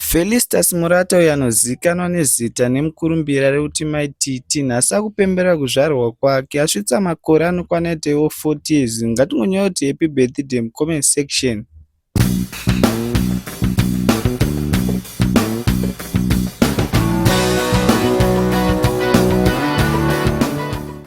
Felistas Murata uyo anozivikanwa nezita nemukurumbira rekuti Mai Titi nhasi akupemberera kuzvarwa kwake asvitsa makore anokwana ita iwo 40 years ngatingonyorawo kuti happy birthday mucomment section.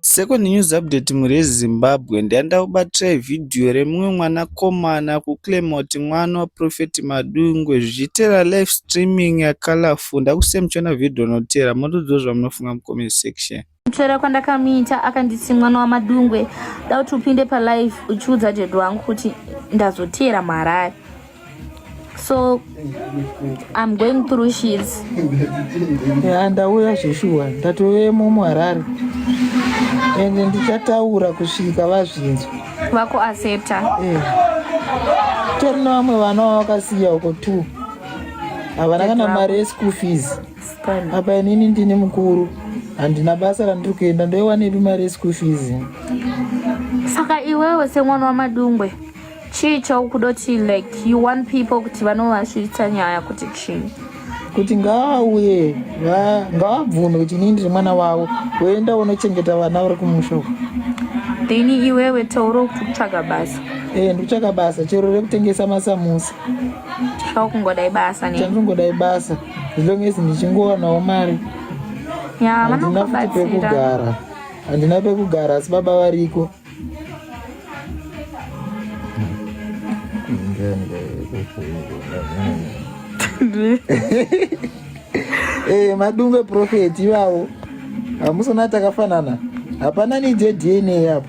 Second news update mhuri yeZimbabwe ndaenda kubatirai video remumwe mwana komana kuClaymont mwana waProphet Madungwe zvichitera live streaming yaColorful ndakusiya muchiona video rinotera motodziwa zvamunofunga mucomment section. Kuchera kwandakamuita akanditi mwana waMadungwe dauti upinde palive uchiudza dad wangu kuti ndazoteera muHarare. so i'm going through sheets ya ndauya zveshuwa ndatovemo muharare ende ndichataura kusvika vazvinzwa vako aseta eh. tori nevamwe vana vavakasiya uko two havana kana mari yeschool fees apa inini ndini mukuru handina basa randiri kuenda ndoiwanepi mari yeschool fees saka iwewe semwana wamadungwe chii chaukudoti like you want people kuti vanovasvitsa nyaya kuti chii kuti ngaauye ngaabvume kuti inini ndiri mwana wavo woenda unochengeta vana vari kumusha uku then iwewe tauro kuti kutsvaga basa ee ndikutsvaga basa chero rekutengesa masamusa chaukungodai basa ne chandingodai basa zilongesi ndichingowanawo mari ya vanokubatsira handina pekugara handina pekugara asi baba variko Eh, madungwe prophet ivavo hamusona takafanana hapana neje dna apo